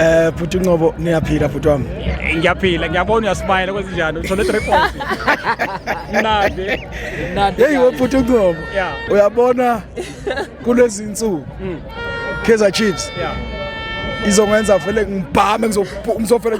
Eh bhuti Nqobo niyaphila bhuti wami. Ngiyaphila ngiyabona uyasmile kwezinjani uthole 3 points. Mnandi. Mnandi. Hey we bhuti Nqobo. Yeah. Uyabona kulezi insuku. Mm. Kaizer Chiefs. Yeah. Izongenza vele ngibhame ngizofela.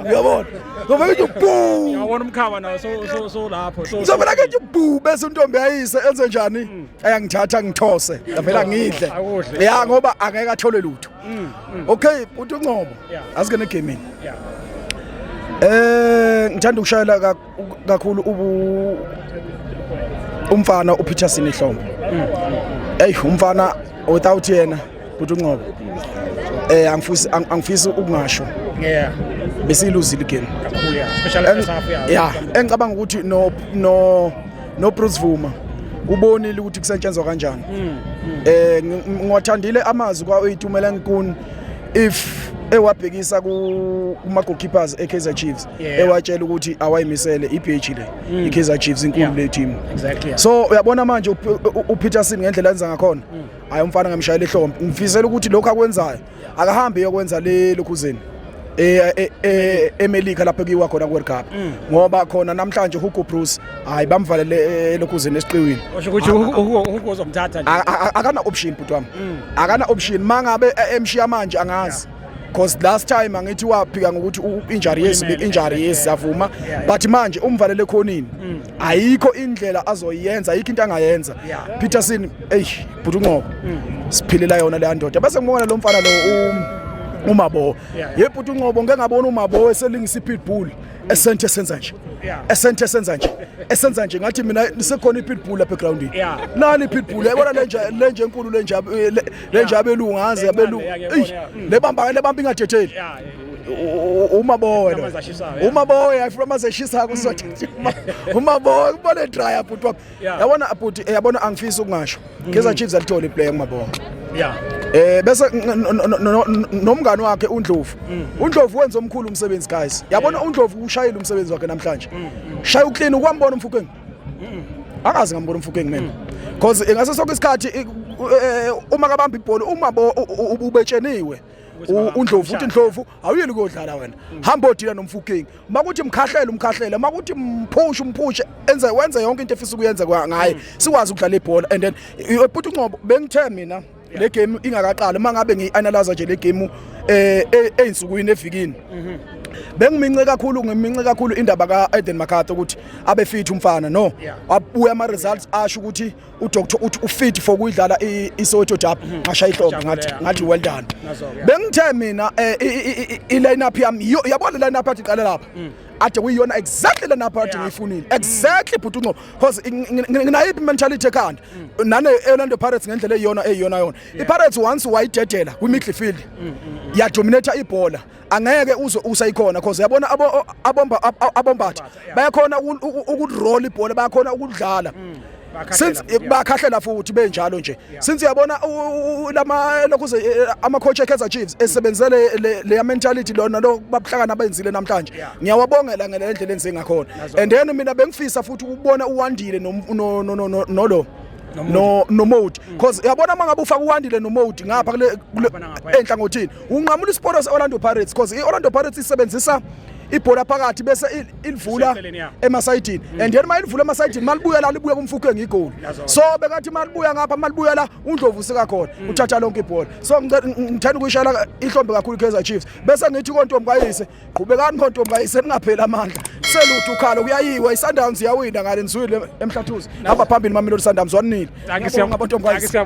Uyabona? Ngizofela nje boo. Uyabona umkhaba nawo so so so lapho. Ngizofela nje boo bese untombi ayise enze njani? Mm. ayangithatha ngithose ngavela ngidle ya ngoba angeke athole lutho mm, mm. okay uthi uncobo asike negaming eh ngithanda ukushayela kakhulu ubu umfana uPeterson ehlombe mm, hey umfana without yena uthi uncobo eh angifisi angifisi ukungasho yeah besiluzile igame kakhulu yeah especially first half yeah engicabanga ukuthi no no no Bruce Vuma ubonile ukuthi kusetshenzwa kanjani mm, mm. eh ngiwathandile amazwi kwa uyitumela nkuni if ewabhekisa kuma goalkeepers eKaizer Chiefs ewatshela ukuthi awayimisele iBH le mm. iKaizer Chiefs inkulu le team so uyabona manje uPeterson ngendlela enza ngakhona hayi umfana ngamshayela ihlombe ngifisela ukuthi lokho akwenzayo akahambe yokwenza le lokhuzeni eh, eh, eh, eMelika lapho kuyiwa khona ku-World Cup mm. ngoba khona namhlanje uHugo Broos hayi bamvalele elokhuzeni esiqiwini usho ukuthi uHugo uzomthatha nje akana option bhuti wami mm. akana option mangabe emshiya manje angazi because last time angithi waphika ngokuthi injury yes injury yes savuma but manje umvalele khonini mm. ayikho indlela azoyenza ayikho into angayenza Peterson eyi bhuti unqobo siphilela yona leya ndoda bese ngibona lo mfana lo umabowo ye bhuti unqobo ngeke ngabona umabowo eselingisa i-pitbull esenthe senza nje esenthe senza nje esenza nje ngathi mina lisekhona i-pitbull lapha egroundini nani i-pitbull yayibona lenje enkulu lenje eh, abelungu ngaze abelungu le bamba ingadetheli uma bowe uma bowe ayifuna amazeshisa akho sothe uma bowe kubone dryer bhuti wami yabona abhuti eh, yabona angifisi ukungasho mm. Kaizer Chiefs alithole iplayer kumabonga yeah eh bese nomngani wakhe uNdlovu mm, mm. uNdlovu wenza omkhulu umsebenzi guys yabona uNdlovu ushayile umsebenzi wakhe namhlanje shaya uclean ukwambona umfukeng angazi ngambona umfukeng mina because eh, ngaso sonke isikhathi eh, eh, uma kabamba ibhola uma ubetsheniwe uNdlovu uthi Ndlovu awuyeli kodlala wena hamba odila nomfukeng makuthi mkhahlele umkhahlele makuthi mphushe umphushe enze wenze yonke into efisa ukuyenza ngaye mm. sikwazi ukudlala ibhola and then bhuti uncobo bengithe mina le game ingakaqali uma ngabe ngiyi-analyza nje le game um eh, e, eyinsukwini evikini mhm. bengimince kakhulu ngimince kakhulu indaba ka-eden makhatha ukuthi abe fithi umfana no abuye ama-results asho ukuthi udoctor uthi ufit for kuyidlala iSoweto Derby mhm. ngasha ihlombe ngathi ngathi well done bengithe mina eh, i line up yami yiyo yabona line up athi qala lapha mm. ade kuyiyona exactly lena part ngiyifunile mm. exactly bhuti unqobo because nginayiphi mentality ekhanda mm. nane Orlando Pirates ngendlela eyiyona eyiyona yona iPirates once wayidedela kwi midfield yadominate ibhola angeke uzwe usayikhona because yabona abomba abombathi bayakhona ukuroll ibhola bayakhona ukudlala mm. since bakhahlela futhi benjalo nje since yabona lama lokhu eh, ama coach eKaizer Chiefs mm. esebenzele le mentality lona lo babuhlakana benzile namhlanje ngiyawabongela ngelendlela enze ngakhona and then mina bengifisa futhi ukubona uwandile no no no no no lo no no mode because yabona mangabe ufaka uwandile no mode ngapha kule enhlangothini unqamula isiporo se-orlando pirates because i-orlando pirates isebenzisa ibhola phakathi bese ilivula emasayidini mm. and then uma ilivula emasayidini malibuya la libuya kumfukhu engigoli so bekathi malibuya ngapha malibuya la undlovu usika khona mm. uthatha lonke ibhola so ngithanda ukuyishayela ihlombe kakhulu iKaizer Chiefs bese ngithi kontombi kayise qhubekani kontombi kayise ningapheli amandla seluthu ukhalo kuyayiwa iSundowns iyawina ngale nizwile emhlathuzi hamba phambili mamelodi Sundowns wanile ngiyabonga kontombi kayise